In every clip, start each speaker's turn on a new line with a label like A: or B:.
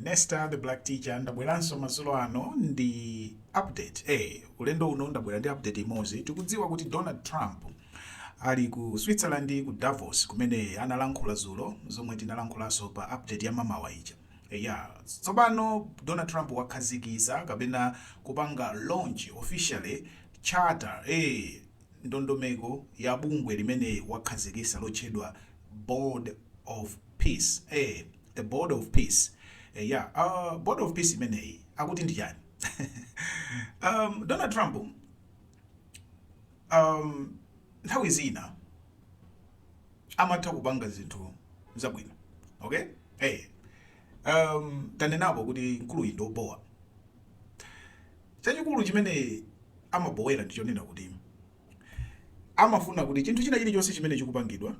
A: Esther the Black Teacher ndabweranso mazulo ano ndi update eh ulendo uno ndabwera ndi update imodzi tikudziwa kuti Donald Trump ali ku Switzerland ku Davos kumene analankhula zulo zomwe tinalankhulanso pa update ya mamawa ija Eya, tsopano Donald Trump wakhazikisa kapena kupanga launch officially charter, ee, ndondomeko ya bungwe limene wakhazikisa lotchedwa Board of Peace, ee, the Board of Peace. Eya, uh, Board of Peace imeneyi akuti ndi chani? um, Donald Trump um, nthawi zina amatha kupanga zinthu zabwino okay eh um tanenapo kuti mkuluyi ndi obowa chachikulu chimene amabowera ndi chonena kuti amafuna kuti chinthu china chilichonse chimene chikupangidwa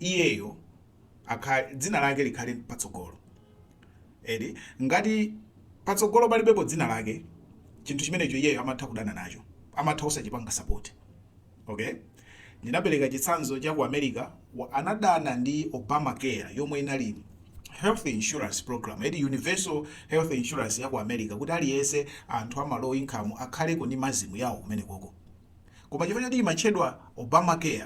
A: iyeyo akha- dzina lake likhale patsogolo eti ngati patsogolo palibepo dzina lake chinthu chimenecho iyeyo amatha kudana nacho amatha osachipanga sapoti Ok, ndinapereka chitsanzo cha ku America, anadana ndi Obamacare yomwe inali health insurance program eti universal health insurance ya ku America kuti aliyense anthu ama low income akhaleko ndi mazimu yawo kumene koko koma chifukwa choti imatchedwa Obamacare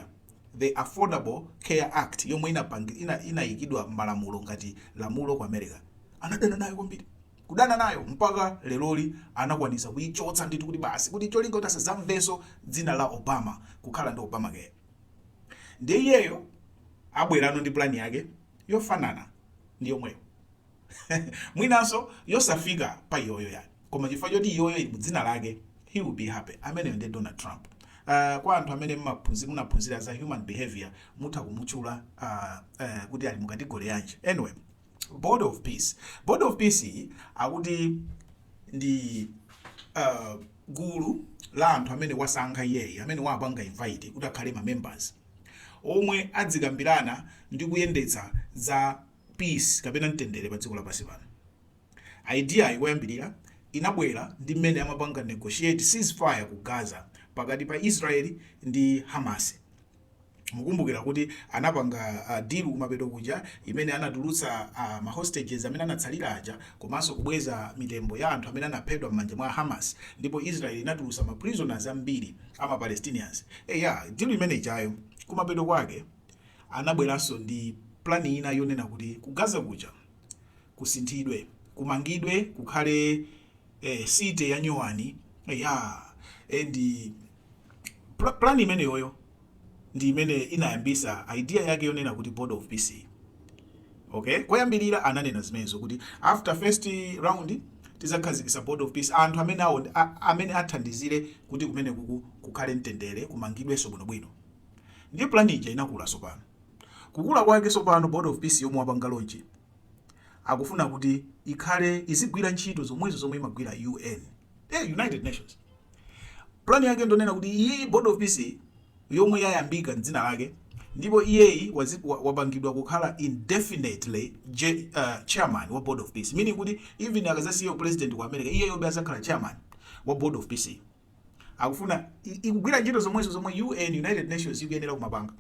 A: the Affordable Care Act yomwe inapangi- ina- inayikidwa malamulo ngati lamulo ku America anadana nayo kwambiri kudana nayo mpaka leloli anakwanisa kuichotsa ndithu kuti basi kuti cholinga kuti asazamvenso dzina la Obama kukhala ndi Obamacare ndiye iyeyo abwerano ndi plan yake yofanana ndi yomweyo mwinanso yosafika pa iyoyo yani koma chifukwa choti iyoyo ili mu dzina lake he will be happy ameneyo ndi Donald Trump Uh, kwa anthu amene mmaphunzira munaphunzira za human behavior mutha kumutchula uh, uh, kuti ali mu category yanji anyway board of peace board of peace iyi akuti ndi uh, gulu la anthu amene wasankha iyeyi amene wapanga invite kuti akhale ma members omwe adzikambirana ndi kuyendetsa za peace kapena mtendere pa dziko lapansi pano idea yake yoyambirira inabwera ndi mmene amapanga negotiate ceasefire ku gaza pakati pa israeli ndi hamas mukumbukira kuti anapanga uh, deal kumapeto kuja imene anatulutsa uh, ma hostages amene anatsalira aja komanso kubweza mitembo ya anthu amene anaphedwa m'manja mwa Hamas ndipo Israel inatulutsa ma prisoners ambiri ama Palestinians eh yeah, deal imene ijayo kumapeto kwake anabweranso ndi plan ina yonena kuti ku Gaza kuja kusinthidwe kumangidwe kukhale ee city ya nyuwani eyaa and pla plan imene iyoyo ndi imene inayambisa idea yake yonena kuti board of peace okay koyambirira ananena zimenezo kuti after first round tizakhazikisa board of peace anthu amene awo a- amene athandizire kuti kumene kuku kukhale mtendere kumangidwenso bwinobwino ndiye plan ija inakula sopano kukula kwake sopano board of peace yomwe wapanga lonchi akufuna kuti ikhale izigwira ntchito zomwezo zomwe imagwira UN eh, United Nations plan yake ndonena kuti iyi board of peace yomwe yayambika mdzina lake ndipo iyeyi wapangidwa kukhala indefinitely uh, chairman wa board of peace meaning kuti even akazasiya president ku america iyeyo be azakhala chairman wa board of peace akufuna izigwira ntchito zomwezo zomwe UN United Nations ikuyenera kumapanga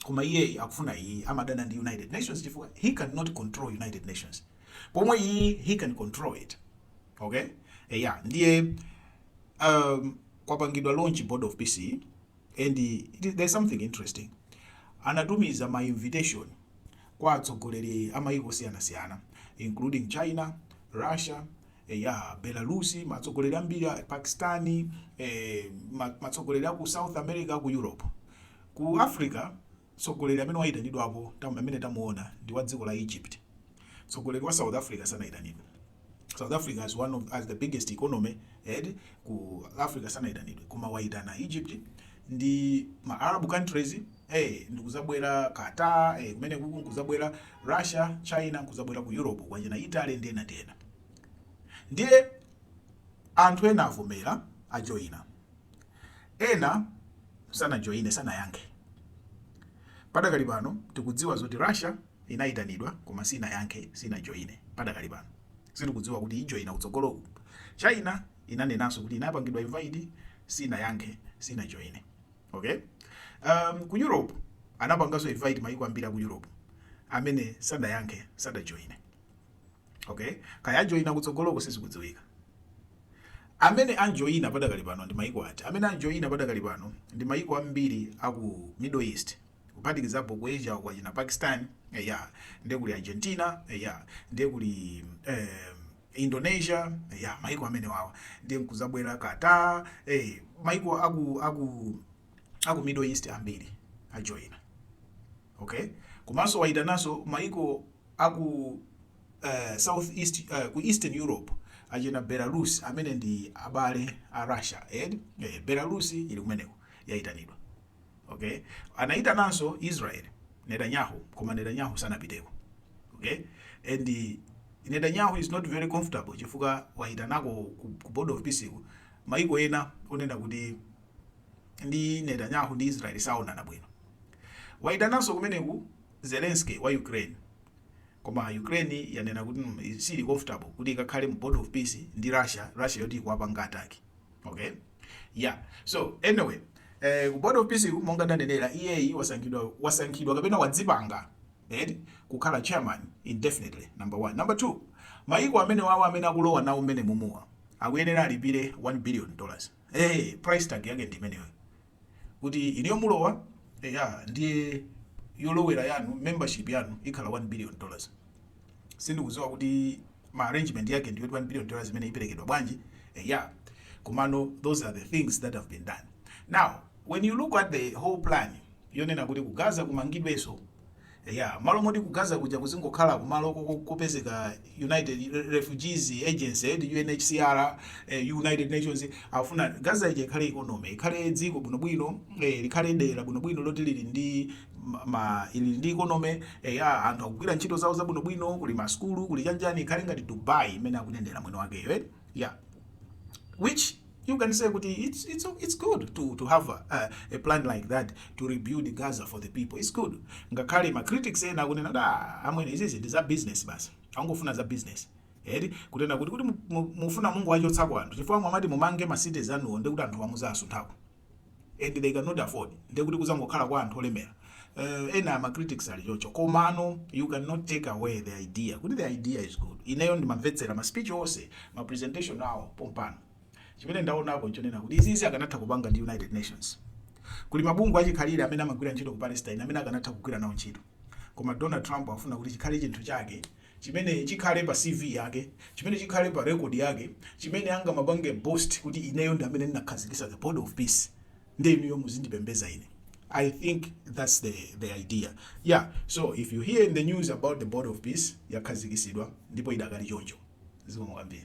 A: koma iyeyi akufuna iyi amadana ndi United Nations chifukwa he cannot control United Nations pomwe iyi he can control it okay eya ndiye um, kwapangidwa launch board of peace and there's something interesting anatumiza ma invitation kwa atsogoleri a mayiko osiyanasiyana including China, Russia, Eya, Belarusi, matsogoleri ambiri a Pakistan, matsogoleri a ku South America, ku Europe. Ku Africa, mtsogoleri amene waitanidwapo, amene tamuona, ndi wa dziko la Egypt. Mtsogoleri wa South Africa sanaitanidwe. South Africa as one of as the biggest economy here ku Africa sanaitanidwe, koma waitana Egypt ndi ma Arab countries eh, ndikuzabwera Qatar eh, kumene kuku nkuzabwera Russia, China nkuzabwera ku Europe kwachina Italy ndena ndena Ndiye anthu ena avomera, ajoina. Ena sanajoine, sanayankhe. Padakali pano tikudziwa zoti Russia inaitanidwa koma sinayankhe, sinajoine padakali pano. Sitikudziwa kuti ijoina kutsogoloku. China inanenanso kuti inapangidwa invite, sinayankhe, sinajoine. Okay? Um, ku Europe anapanganso invite mayiko ambiri a ku Europe amene sadayankhe, sadajoine. Okay, kaya ajoina kutsogoloko sizikudziwika. Amene ajoina padakali pano ndi maiko ati? Amene ajoina padakali pano ndi maiko ambiri a ku Middle East kuphatikizapo ku Asia kwa china Pakistan, eya, eh, ndiye kuli Argentina, eya, eh, ndiye kuli eh, Indonesia, eya, eh, maiko amene awawa ndiye nkuzabwera Qatar, eh, maiko aku aku aku Middle East ambiri ajoina. ok komanso wayitananso mayiko aku south east ku eastern europe achina belarus amene ndi abale a russia eti eh, belarus ili kumeneko yayitanidwa ok anayitananso israel netanyahu koma netanyahu sanapiteko ok and netanyahu is not very comfortable chifukwa wayitanako ku, ku board of peace ku mayiko ena onena kuti ndi Netanyahu ndi Israel saonana bwino. Waitananso kumeneku Zelensky wa Ukraine. Koma Ukraine yanena kuti mm, sili comfortable kuti ikakhale mu board of peace ndi Russia, Russia yoti ikuwapanga attack. Okay? Yeah. So anyway, eh, ku board of peace monga ndanenera iyeyi wasankhidwa wasankhidwa kapena wadzipanga eti eh, kukhala chairman indefinitely number one. Number two, maiko amenewawo amene akulowa nawo mmenemumuwa akuyenera alipire 1 billion dollars ee price tag yake ndi imeneyo kuti inuyo mulowa eya ndiye yolowera yanu membership yanu ikhala 1 billion dollars sindikuziwa kuti ma arrangement yake ndi yoti 1 billion dollars imene iperekedwa bwanji eya komano those are the things that have been done now when you look at the whole plan yonena kuti ku gaza kumangidweso Eya, mmalo moti ku Gaza kuja kuzingokhala kumalo kopezeka United Refugees Agency, eti UNHCR, eh, United Nations, afuna Gaza ija ikhale economy, ikhale dziko bwinobwino, eh, likhale dera bwinobwino loti lili ndi ma- ma ili ndi economy, eya, anthu akugwira ntchito zawo zabwinobwino, kuli masukulu, kuli chanichani, ikhale ngati Dubai imene akunenera mwini wakeyo, eh? Yeah which You can say kuti it's, it's, it's good to, to have a, a, a plan like that to rebuild Gaza for the people. It's good. Ngakhale ma critics ena akunena kuti ah, amwene izizi ndi za business basi. Angofuna za business. Eti kunena kuti kuti mufuna mungowachotsako anthu chifukwa mmamati mumange ma cities anuwo nde kuti anthuwa muzasunthako. and they cannot afford ndiye kuti kuzangokhala kwa anthu olemera uh, ena ma critics ali choncho komano you cannot take away the idea kuti the idea is good ineyo ndimamvetsera ma speech onse ma presentation awo pompano chimene ndaonapo nchonena kuti izizi akanatha kupanga ndi united nations kuli mabungwe achikhalire amene amagwira ntchito ku palestine amene akanatha kugwira nawo ntchito koma donald trump afuna kuti chikhale chinthu chake chimene chikhale pa CV yake, chimene chikhale pa record yake, chimene angamapange boast kuti ineyo ndi amene ndinakhazikisa the board of peace nde inuyo muzindipembeza ine. I think that's the, the idea. Yeah, so if you hear in the news about the board of peace yakhazikisidwa ndipo idakali choncho. Zikomo kwambiri.